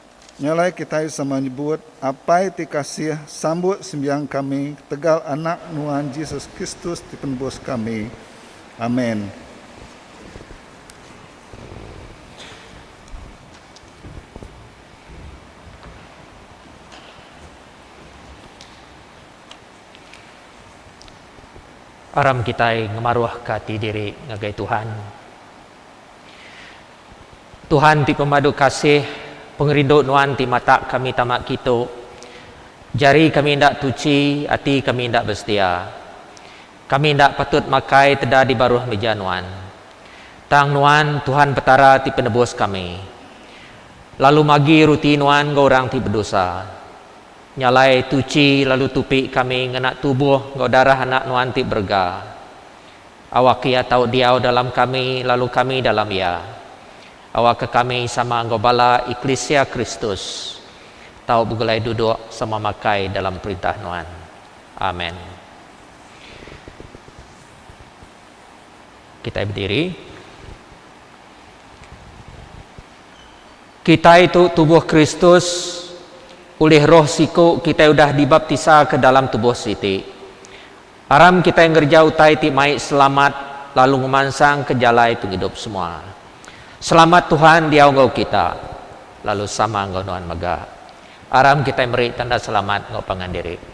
Nya alai kitai sama nyebut, Apai ti kasih, sambut sembiang kami ketegal Anak Nuan Jesus Kristus ti Penebus kami. Amen. Aram kitai ngemaruhka ati diri ngagai Tuhan. Tuhan ti pemadu kasih, pengerindu Nuan ti matak kami tama kitu. Jari kami enda tuchi, ati kami enda besetia. Kami enda patut makai teda di baruh meja Nuan. Tang Nuan, Tuhan Petara ti penebus kami. Lalu magi ruti Nuan enggau orang ti bedosa. Nyalai tuchi lalu tupi kami ngena tubuh enggau darah Anak Nuan ti berega. Awak Iya tau diau dalam kami lalu kami dalam Iya. Awakka kami sama enggau bala eklisia Kristus tau begulai duduk sama makai dalam perintah Nuan. Amen. Kitai bediri. Kitai tu tubuh Kristus. Ulih Roh siku kitai udah dibaptisa ke dalam tubuh siti. Aram kitai ngereja utai ti mai selamat lalu ngemansangka jalai pengidup semua. Selamat Tuhan diau enggau kita, lalu sama enggau nuan mega. Aram kitai meri tanda selamat enggau pangan diri.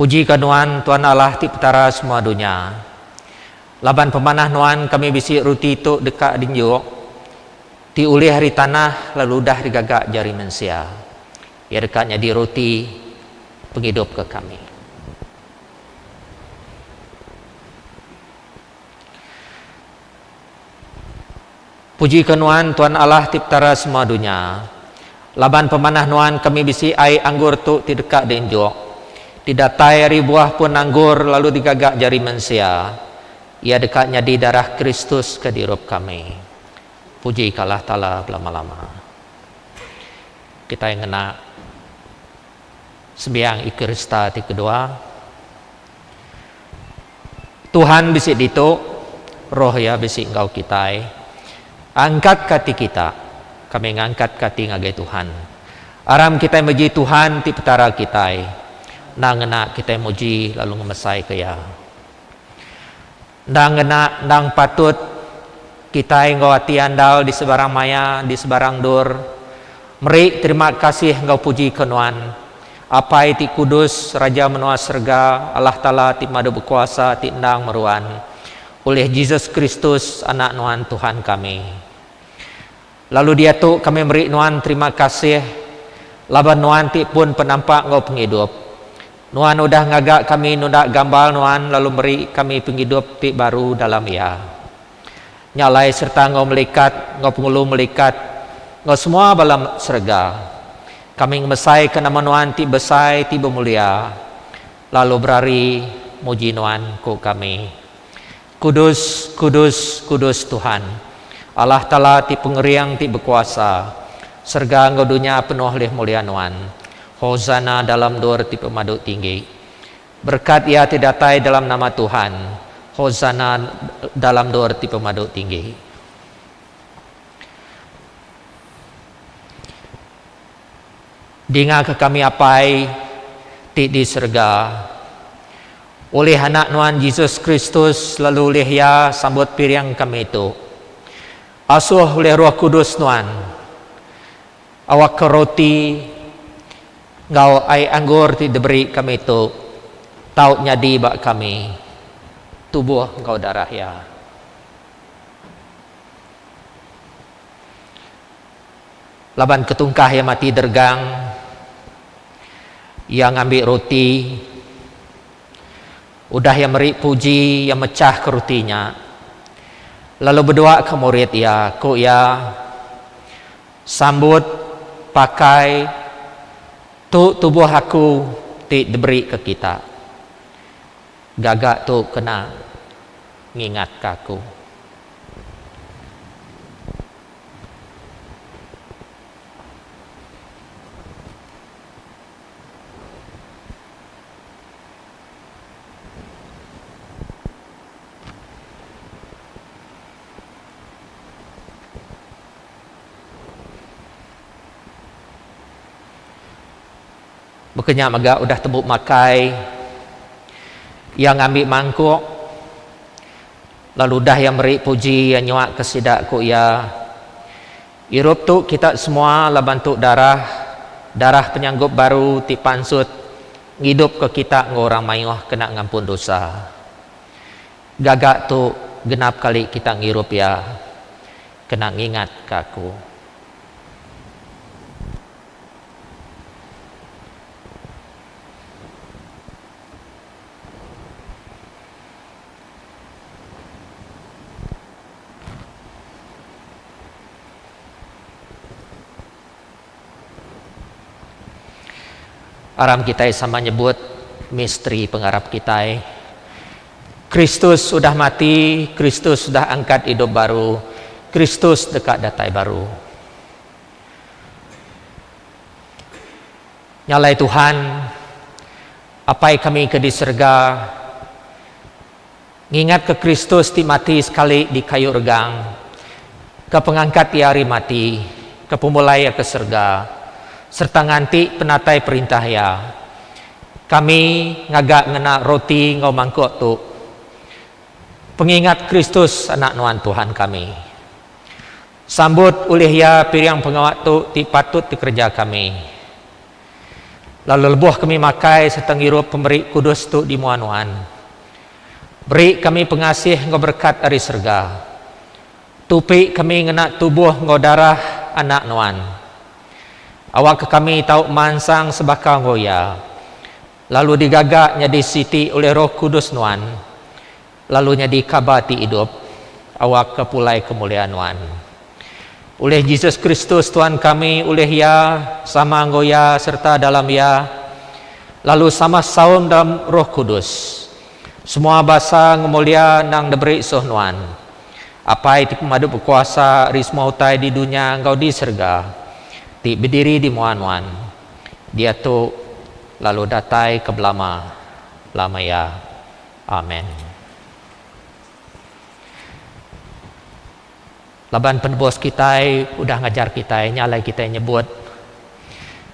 Puji ka Nuan, Tuan Allah ti Petara semua dunya. Laban pemanah Nuan kami bisi ruti tu deka dinjuk, ti ulih ari tanah lalu udah digaga jari mensia. Iya deka nyadi ruti pengidup ke kami. Puji ka nuan tuan Allah ti petara semua dunya. Laban pemanah nuan kami bisi ai anggur tu ti deka di enjuk. Ti datai ari buah pun anggur lalu di gaga jari mensia. Iya deka nyadi darah Kristus ke di rup kami. Puji ka Allah Taala belama lama. Kitai ngena. Sembiang Eukarista ti kedua. Tuhan bisi ditu, Roh Iya bisi enggau kitai. Angkatka ati kita, kami ngangkatka ati ngagai Tuhan. Aram kitai meji Tuhan ti Petara kitai, endang ngena kitai muji lalu ngemesaika Iya. Endang ngena, endang patut kitai enggau ati andal di sebarang maya, di sebarang endur, meri terima kasih enggau puji ke Nuan, Apai ti kudus, Raja menua serega, Allah Taala ti Madu Bekuasa ti endang meruan, ulih Jesus Kristus, Anak Nuan Tuhan kami. Lalu diatu kami meri nuan terima kasih laban nuan ti pun penampak enggau pengidup. Nuan udah ngaga kami nunda gambar nuan lalu meri kami pengidup ti baru dalam iya. Nya alai sereta enggau melikat enggau pengulu melikat enggau semua bala serega. Kami ngemesaika nama nuan ti besai ti bemulia lalu berari muji nuan, ku kami. Kudus, kudus, kudus Tuhan, Allah Taala ti pengering ti bekuasa, serega enggau dunya penuh leh mulia Nuan. Hosana dalam endur ti pemadu tinggi. Berekat iya ti datai dalam nama Tuhan, Hosana dalam endur ti pemadu tinggi. Dingaka kami Apai ti di serega. Ulih Anak Nuan Jesus Kristus lalu ulih Iya sambut piring kami tu. Asuh ulih Roh Kudus Nuan, awakka roti enggau ai anggur ti diberi kami tu tau nyadi ba kami tubuh enggau darah Iya. Laban ketungkah iya mati dergang, iya ngambi ruti. Udah iya meri puji, iya mechahka ruti nya, lalu beduaka murid iya, ku iya, Sambut, pakai, tu tubuh aku ti diberika kita. Gaga tu kena ngingatka aku. Baka nya mega udah tembu makai iya ngambi mangkuk. Lalu udah iya meri puji, iya nyuaka sida, ku iya, Irup tu kita semua laban tu darah, darah penyanggup baru ti pansut ngidupka kita enggau orang mayuh kena ngampun dosa. Gaga tu genap kali kita ngirup iya, kena ngingatka aku. Aram kitai sama nyebut misteri pengarap kitai. Kristus udah mati, Kristus udah angkat idup baru, Kristus deka datai baru. Nya alai Tuhan, Apai kami ke di serega, ngingatka Kristus ti mati sekali di kayu regang, ke pengangkat Iya ari mati, ke pemulai Iya ke serega, sereta nganti penatai perintah Iya. Kami ngaga ngena roti enggau mangkuk tu pengingat Kristus, Anak Nuan Tuhan kami. Sambut ulih iya piring pengawa tu ti patut dikereja kami, lalu lebuh kami makai sereta ngirup pemeri kudus tu di mua nuan. Beri kami pengasih enggau berekat ari serega. Tupi kami ngena tubuh enggau darah Anak nuan. Awakka kami tau mansang sebaka enggau iya, lalu digaga nyadi siti ulih Roh Kudus nuan. Lalu nyadi kaba ti idup awakka pulai kemuliaan nuan. Ulih Jesus Kristus Tuhan kami, ulih Iya, sama enggau Iya sereta dalam Iya, lalu sama saum dalam Roh Kudus, semua basa ngemulia endang diberi soh nuan, Apai ti pemadu bekuasa ari semua utai di dunya enggau di serega, ti bediri di mua nuan, diatu lalu datai ke belama lama iya. Amen. Laban penebus kitai udah ngajar kitai nya alai kitai nyebut,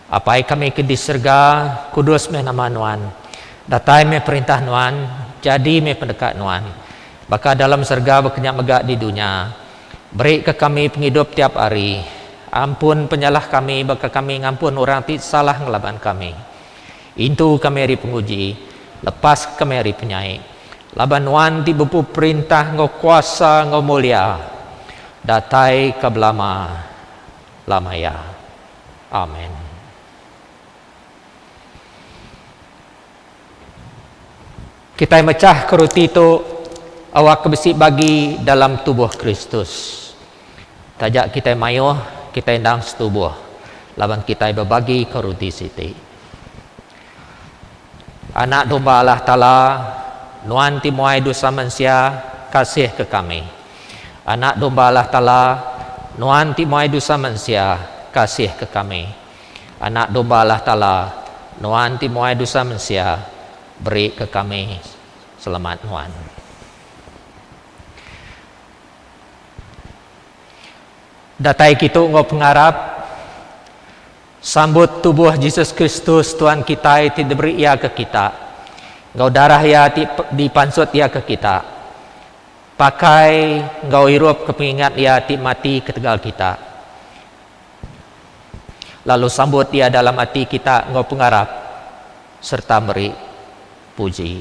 Apai kami ke di serega, kudus meh nama Nuan. Datai meh perintah Nuan, jadi meh pendeka Nuan, baka dalam serega baka nya mega di dunya. Berika kami pengidup tiap hari. Ampun penyalah kami baka kami ngampun orang ti salah ngelaban kami. Intu kami ari penguji, lepas kami ari penyai, laban Nuan ti bepu perintah enggau kuasa enggau mulia, datai ka belama lama iya. Amen. Kitai mechah ke ruti tu awak ke besi bagi dalam tubuh Kristus. Taja kitai mayuh, kitai endang setubuh laban kitai bebagika ruti siti. Anak Domba Allah Taala, Nuan ti muai dusa mensia, kasihka kami. Anak Domba Allah Taala, Nuan ti muai dusa mensia, kasihka kami. Anak Domba Allah Taala, Nuan ti muai dusa mensia, berika kami selamat Nuan. Datai kitu enggau pengarap sambut tubuh Jesus Kristus Tuan kitai ti diberi Iya ke kita, enggau darah Iya ti dipansut Iya ke kita, pakai enggau irup ke pengingat Iya ti mati ketegal kita, lalu sambut Iya dalam ati kita enggau pengarap sereta meri puji.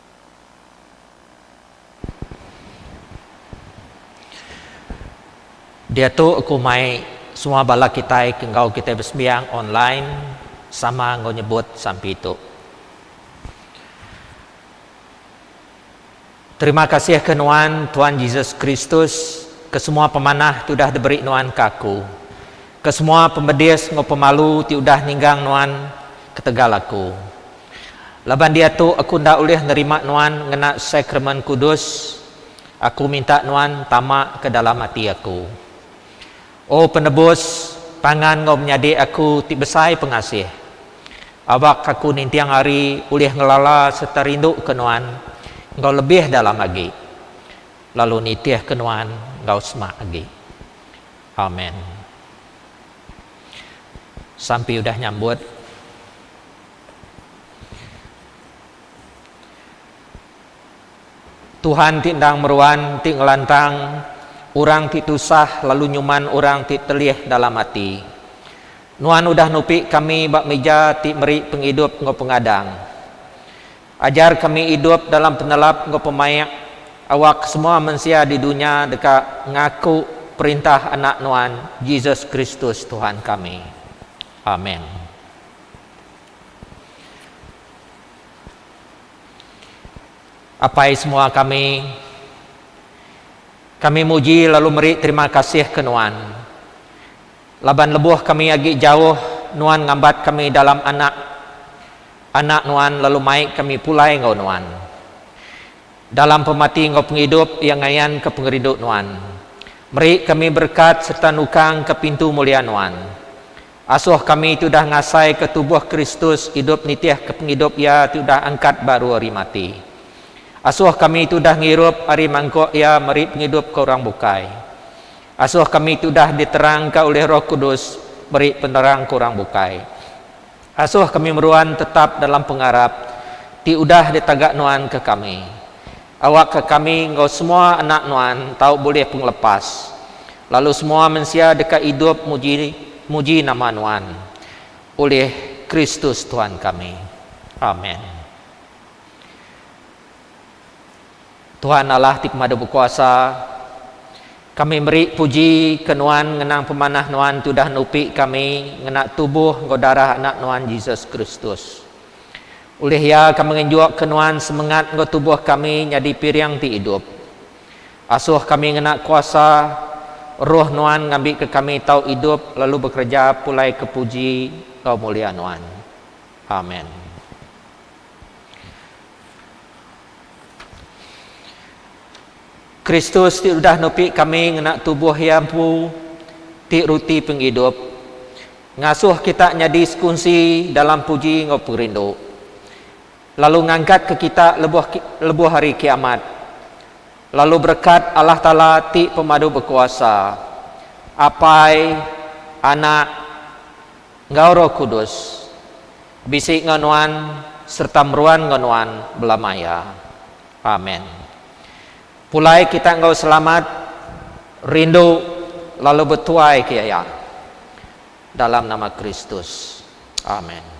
Diatu aku mai semua bala kitai ke enggau kitai besembiang online sama enggau nyebut sampi tu. Terima kasih ke nuan Tuan Jesus Kristus ke semua pemanah ti udah diberi nuan ke aku, ke semua pemedis enggau pemalu ti udah ninggang nuan ketegal aku. Laban diatu aku enda ulih nerima nuan ngena Sakramen Kudus, aku minta nuan tama ke dalam ati aku. O Penebus, pangan enggau menyadi aku ti besai pengasih. Awak aku ninting hari ulih ngelala sereta rinduka nuan enggau lebih dalam agi, lalu nitihka nuan enggau semak agi. Amen. Sampi udah nyambut. Tuhan ti endang meruan ti ngelantang orang ti tusah lalu nyuman orang ti telih dalam ati. Nuan udah nupi kami ba mija ti meri pengidup enggau pengadang. Ajar kami idup dalam penelap enggau pemaik awak semua mensia di dunya deka ngaku perintah Anak Nuan, Jesus Kristus Tuhan kami. Amen. Apai semua kami, kami muji lalu meri terima kasih ke Nuan. Laban lebuh kami agi jauh, Nuan ngambat kami dalam anak Anak Nuan lalu mai kami pulai enggau Nuan. Dalam pemati enggau pengidup iya ngayan ke pengerindu Nuan. Meri kami berekat serta nukang ke pintu mulia Nuan. Asuh kami ti udah ngasaika tubuh Kristus idup nitihka pengidup Iya ti udah angkat baru ari mati. Asuh kami ti udah ngirup ari mangkuk Iya meri pengidup ke orang bukai. Asuh kami ti udah diterangka ulih Roh Kudus meri penerang ke orang bukai. Asuh kami meruan tetap dalam pengarap ti udah ditaga nuan ke kami. Awakka kami enggau semua anak Nuan tau bulih pengelepas, lalu semua mensia deka idup muji muji nama Nuan, ulih Kristus Tuhan kami. Amen. Tuhan Allah ti Pemadu Bekuasa, kami meri puji ke Nuan ngenang pemanah Nuan ti udah nupi kami ngena tubuh enggau darah Anak Nuan Jesus Kristus. Ulih iya ka mengenjukka nuan semengat enggau tubuh kami nyadi piring ti idup. Asuh kami ngena kuasa Roh nuan ngambika kami tau idup lalu bekereja pulai ke puji enggau mulia nuan. Amen. Kristus ti udah nupi kami ngena tubuh iya empu ti ruti pengidup. Ngasuh kita nyadi sekunsi dalam puji enggau perindu, lalu ngangkatka kita lebuh lebuh Hari Kiamat. Lalu berekat Allah Taala ti Pemadu Bekuasa, Apai, Anak, enggau Roh Kudus, bisi enggau nuan sereta meruan enggau nuan belamaya. Amen. Pulai kita enggau selamat rindu lalu betuai ke iya dalam nama Kristus. Amen.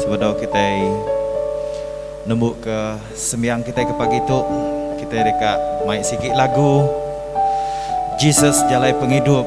Sebedau kitai nembuka sembiang kitai ke pagi tu, kitai deka mai sigi lagu Jesus Jalai Pengidup.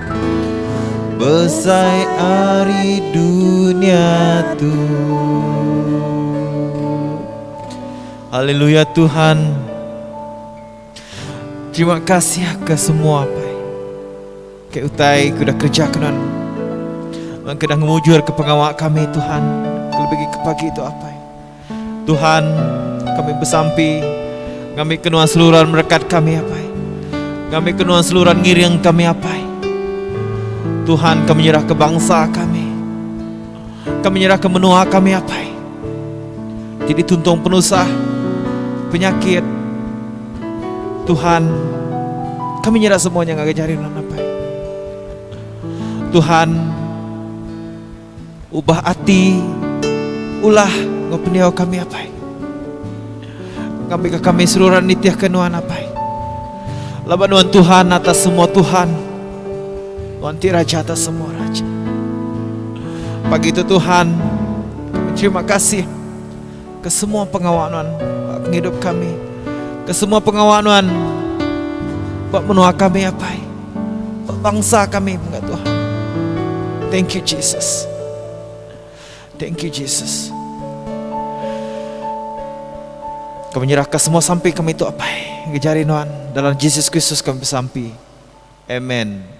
Besai ari dunia tu. Haleluya Tuhan. Terima kasih ke semua pai. Ke utai ku dah kerja kenan. Ke dah ngemujur ke pengawa kami Tuhan. Lebih ke pagi tu apai. Tuhan, kami besampi ngambika nuan seluran merekat kami apai. Ngambika nuan seluran ngiring kami apai. Tuhan kami nyerah ke bangsa kami. Kami nyerah ke menua kami apai. Jadi tuntung penusah, penyakit. Tuhan, kami nyerah semuanya ngagai jari nuan apai. Tuhan, Ubah ati, ulah, enggau pendiau kami, Apai. Ngambika kami seruran nitihka Nuan, Apai. Laban Nuan Tuhan atas semua Tuhan. Nuan ti Raja atas semua Raja. Pagi tu Tuhan, kami terima kasih. Kesemua pengawa Nuan ba pengidup kami. Kesemua pengawa Nuan ba menua kami Apai. Ba bangsa kami mega Tuhan. Thank you Jesus. Thank you Jesus. Kami nyerahka semua sampi kami tu Apai. Ngejari Nuan dalam Jesus Kristus kami besampi. Amen.